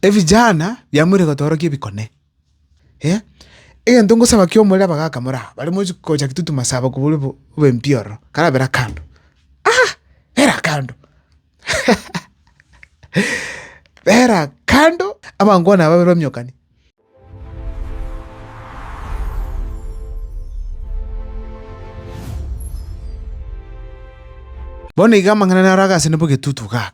Ebijana biamoire gotorokia ebikone. Egento ngosaba kia omorero abagaka more aba bare mochi gocha gitutuma saba kobua obempio ororo karabera kando. Bera kando bera kando abangwana aba babe bamiokani. Bono iga amang'ana naro agasene bo egetutu igaa.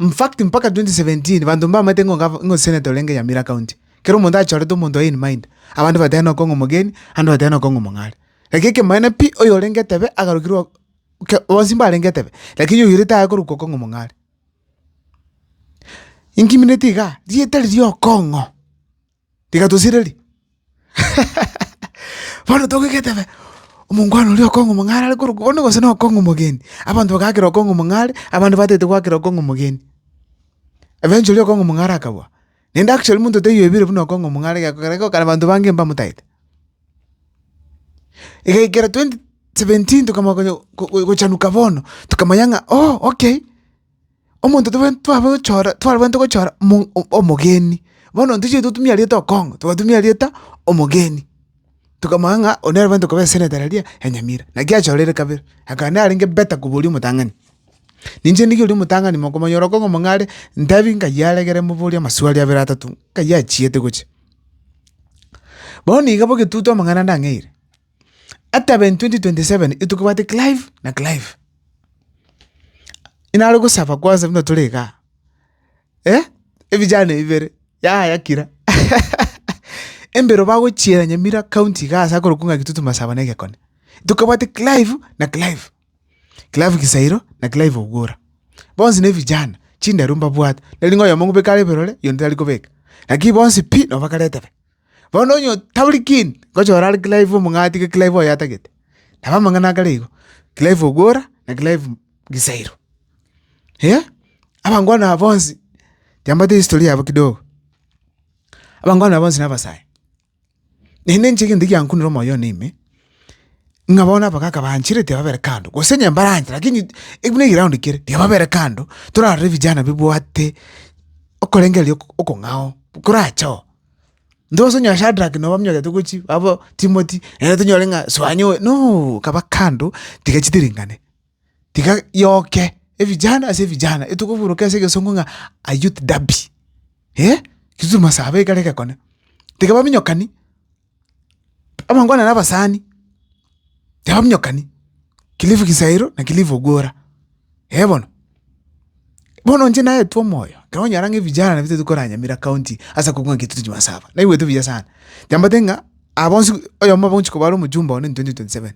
In fact, mpaka 2017 banto mbamaete ng'a Gavana ng'a Senator orenge Nyamira County, kera omonto achorete omonto oye in mind, abande bateba noko ng'a omogeni, ande bateba noko ng'a omong'are. Lakini ekemanyererio pi oyo orenge etebe agarukirwe ok oke bonsi mbarenge etebe, lakini oyo oirete aye korukwa okong'a omong'are. Inkimineti igaa, rieta riria okong'o. Tiga tosireri. Bono togoika etebe, omongwana oria okong'a omong'are are korokwa bono gose nokong'a omogeni. Abanto bagaakera okong'a omong'are, abande batagete goakera okong'a omogeni. Eventually okong'a omong'are akabua. Naende actually monto taiyo oebire buna okong'a omong'are egekogera igo okare abanto bange mbamotagete. Egaikera twenty seventeen tokamanya konya go- go- gochanuka bono, tokamanya ng'a oh okay. omonto tobwenereti twaba gochora twarabwenerete gochora mo omogeni. Bono ntochia totumia erieta okong'u, togatumia erieta omogeni, tokamanya ng'a oyo nere bwenerete koba eseneta riria ya nyamira. Naki achoreire kabere, akaba narenge better kobua oria omotang'ani. Ninche ndigie oria omotang'ani mokomonyora okong'u mong'ao are, ntebi nkayi aregere moborie amaswali abere atato, nkayi achiete gochia. Bono niga bogetutu amang'ana ndang'eire. Ataben 2027 intwe kobwate Clive na Clive. Inare gosaba kwansa buna tore igaa. Eh? Ebijana ebibere, yaya kira. Embero bagochiera Nyamira county igaa ase akorokwa ng'a Kitutu Masaba na Egekone. Intwe kobwate Clive na Clive. Clive Kisairo na Clive Ogwora. Bonsi na ebijana, chindaru mbabwate. Nari ng'a oyomo ng'obeke are eberore, oyonde tari kobeka. Lakini bonsi pi, nabo bakare etebe. Bono onye tabori kindi, ngocha orare Clive omong'ina atige Clive oyo atagete. Nabo amang'ana akare igo, Clive Ogwora na Clive Gisairo. Eeh, abangwana aba bonsi, tiambaeti history yabo kidogo. Abangwana aba bonsi na abasae, naende inche egento egiankunire omoyo one ime, ng'a bono abagaka banchire tibababere kando, gose onye mbaranchire lakini buna egeroundi kere, tibababere kando, torarore vijana bibwate okorengereria oko- okong'ao, korachoo. Intwe gose onye Shadrack nabo bamenyerete gochia abwo Timothy naende tonyore ng'a soanyi oyo nooo kaba kando tiga chitiringane, tiga yoke evijana ase evijana etokoburoka ase egesongo ng'a a youth derby, kisumasaba ekero egekone tiga baminyokani. Abangwana nabasani, tibaminyokani, Cliff Kisairo na Cliff Ogwora, eh bono. Bono inche naetwe omoyo, ekero onyora ng'a evijana nabirobetwe gokora Nyamira county ase okobua ng'a Kitutu Jumaa Saba, naigwete buya sana, nyambate ng'a aba bonsi oyomo bwa gochia koba are omojumbe oo ne twenty twenty seven,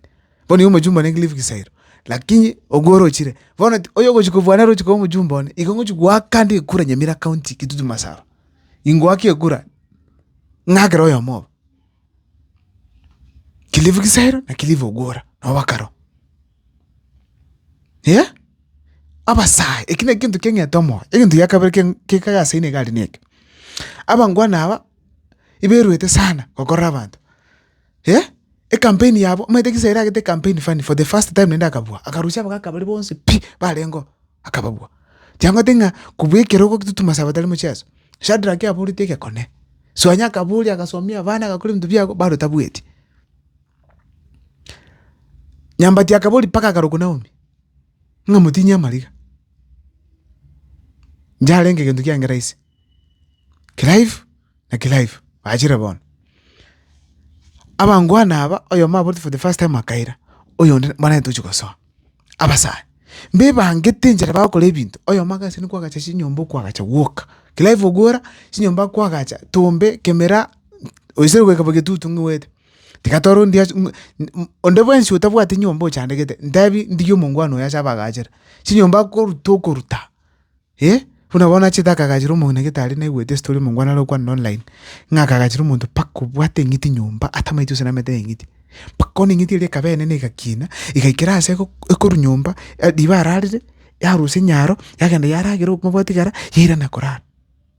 bono iga omojumbe one Cliff Kisairo, lakini Ogwora ochire, bono oyogochia kobua nere ochia koba omojumbe one, igo ngochia goaka nde kura Nyamira county Kitutu Masaba. ingoake ekura, ng'akere oyomo obo. Cliff Kisairo na Cliff Ogwora nabo bakaro. Eeh, abasae eki nekegento keng'ete omoyo. Egento gia kabere keng- kekagasaine igare neke, abangwana aba, ibairwete sana gokorora abanto. eh ecampaign yabo omanyete gisa eragete ecampaign funny for the first time naende akabua, akarusia abagaka baria bonsi pi barengeo akababua. Chiamanyete ng'a kobua ekero ogotutuma ase abatari mocheso, Shadrack aboreti egekone, Suanya akaboria agasomia abana agakora ebinto biabo bado tabueti. Nyambati akaboria mpaka akarokwa Naomi ng'a motinyie amariga, inche arenge egento kiange rahisi. Clive na Clive bachire bono. Abangwana aba oyomo aboreti for the first time akaira, oyonde mbarabwo tochi gosoa. Abasani, mbebangete enchera bagokora ebinto, oyomo agasiria kwagacha chinyomba okwagacha gwoka. Clive ogwora chinyomba kwagacha, tombe, kemera, oisire goika bo getutu ng'igwete. Tiga tore onde achi ng'u onde bwensi otabwati nyomba ochandegete, ntebi ndigie omongwana oyo ase abagachire. Chinyomba akoruta okoruta. Ee, buna bono achete akagachera omong'ina gete aria naigwete esitori omongwana are gokwana na online, ng'a akagachera omonto mpaka obwate eng'iti nyomba atamaeti gose namete neng'iti. Mpaka bono eng'iti eria ekaba enene egakina, egaikera aase eko- ekoru nyomba, riba ararire, yarusia enyaro, yagenda yaragera okomobwatia igara, yairana korara.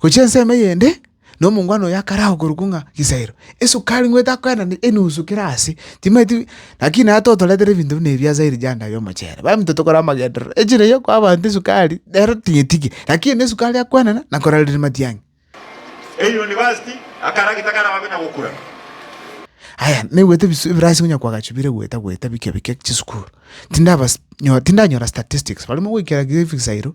Gochia ensemo eyende, na omongwana oyo akare ao korokwa ng'a Gisaero, esukari ng'weete akoenane enusu kera aase, timanyeti naki naye totoretere ebinto buna ebi ase erijanda y'omochere. Baminto tokore amagenderero, echiro eyio ekoa abanto esukari, nere ting'etige, lakini na esukari akoenana na korareri matiang'i. Eyunivasiti, akaragita karabe buna gokura. Aya, naigwete ebisu ebirase konya koagachwa bire goeta goeta bike bike chisukuru. Tindabas nyo tindanyora statistics, barimo goikera Gisaero,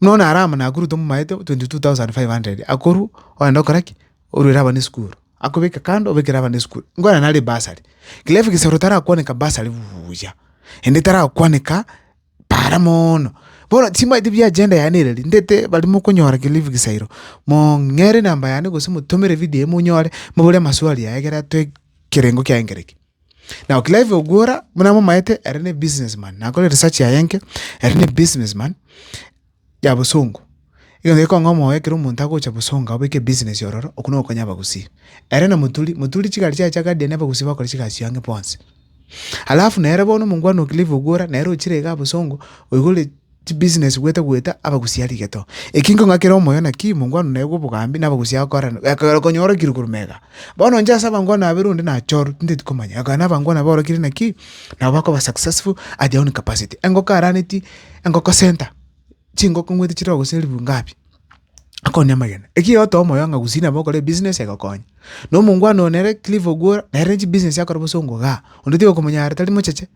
Buna bono Aramu Nakuru tomomaete 22,500 akorwa ogenda gokora ki? Oruere abana esukuru, akobeke kando obekere abana esukuru inkwana nare ebasari. Kila egesero tarakwaneka basari buuya, ende tarakwaneka para moono. Bono timanyeti bia agenda yaye nere ri, ndete bari mokonyora kelifu egesairo, mong'ere enamba yane gose motomere ebidio eye monyore, mobore amaswali aye ekero atoe kerengo kiaye nkere ki. Now Clive Ogwora buna momaete ere ne business man nakore research yaye enke, ere ne business man ya bosongo. Egento gekong'a omoyo ekero omonto agocha bosongo abeke business ororo okwo na ogokonya abagusii. Ere na moturi, moturi chigari chiaye chia guardian abagusii bakore chigasi chiabo ang'e bonsi. Alafu nere bono omongwana o Clive Ogwora nere ochire igaa bosongo oigure. Chibusiness gwete gwete abagusia rigeto. Eki nkong'akera omoyo nakio imo nkwano naye bw'obogambi na abagusia agokorana gekogera okonyora ekirwe korwa mega. Bono inche ase abangwana babere onde nachorwe tinteti komanya gekogera na abangwana aba orokire nakio nabo bakoba successful at their own capacity. Engoko araneti engoko center chingoko ng'wete chire ogosia elifu ngapi akoni amagena. Eki egotoo omoyo ng'a gusii nabo okore ebusiness egokonye. Na omongwana oyo nere Cliff Ogwora nere chibusiness akora bosongo igaa onde tigokomonyara tari mocheche.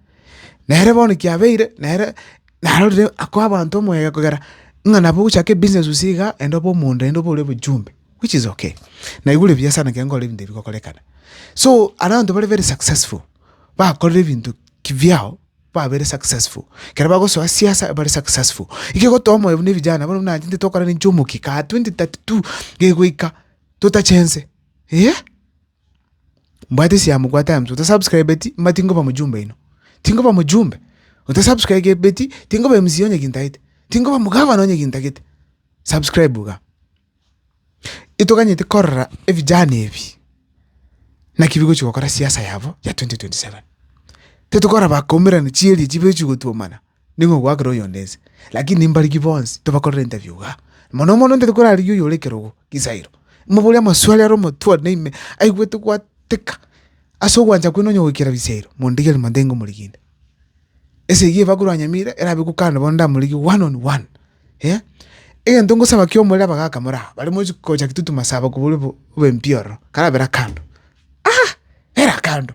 Nere bono kiabeire nere narorire ako abanto omoegeka kogera ng'a nabo ogochaka ebusiness gose iga enda obe omonto naende obore ojumbe which is okay. Naigure buya sana ekero nkorora ebinto ebi bikorekana. So abanto bare very successful bakorire ebinto kibiao babeire successful, ekero bagosoa siasa bare successful. Igo egotoa omoyo buna evijana bono buna intwe tokorana intwe omokia kaa twenty thirty two gegoika totachense eh. Mbwate siamo bwate aya msee otasubscribeti mba tinkoba mjumbe oino tinkoba mjumbe otasubscribeti tinkoba MC onye gintagete tinkoba mgavana onye gintagete subscribe iga itoganyete korora evijana ebi naki bigochi gokora siasa yabo ya 2027 titokora bakomerana chieri echi bechigotwomana. Nigo ogwakera oyonde ense. Lakini mbariki bonsi tobakorere interview igaa. Mono mono intwe tokorarigia oyo ore ekerogo, Kisairo. Moborie amaswali are omotwe one ime, aigwete gwateka. Ase ogwancha kwene onye goikera bisairo, mondigerie monto ingomorigia. Esegi eba korwa nyamira erabe ekokana bono ndamorigie one on one. Egento ngosaba kio omorere abagaka more aba, bare mochi gocha gitutu masaba kobua obe mpiororo, karabera kando. Era kando.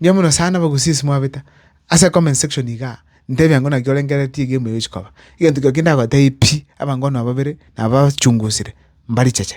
Mbuya mono sana abagusia ase mwabeta ase comment section igaa, ntebia ng'a naki orengereretie egame eye ochi koba, egento keria kindagotebie pi, abankono aba babere nabachungusire mbaricheche.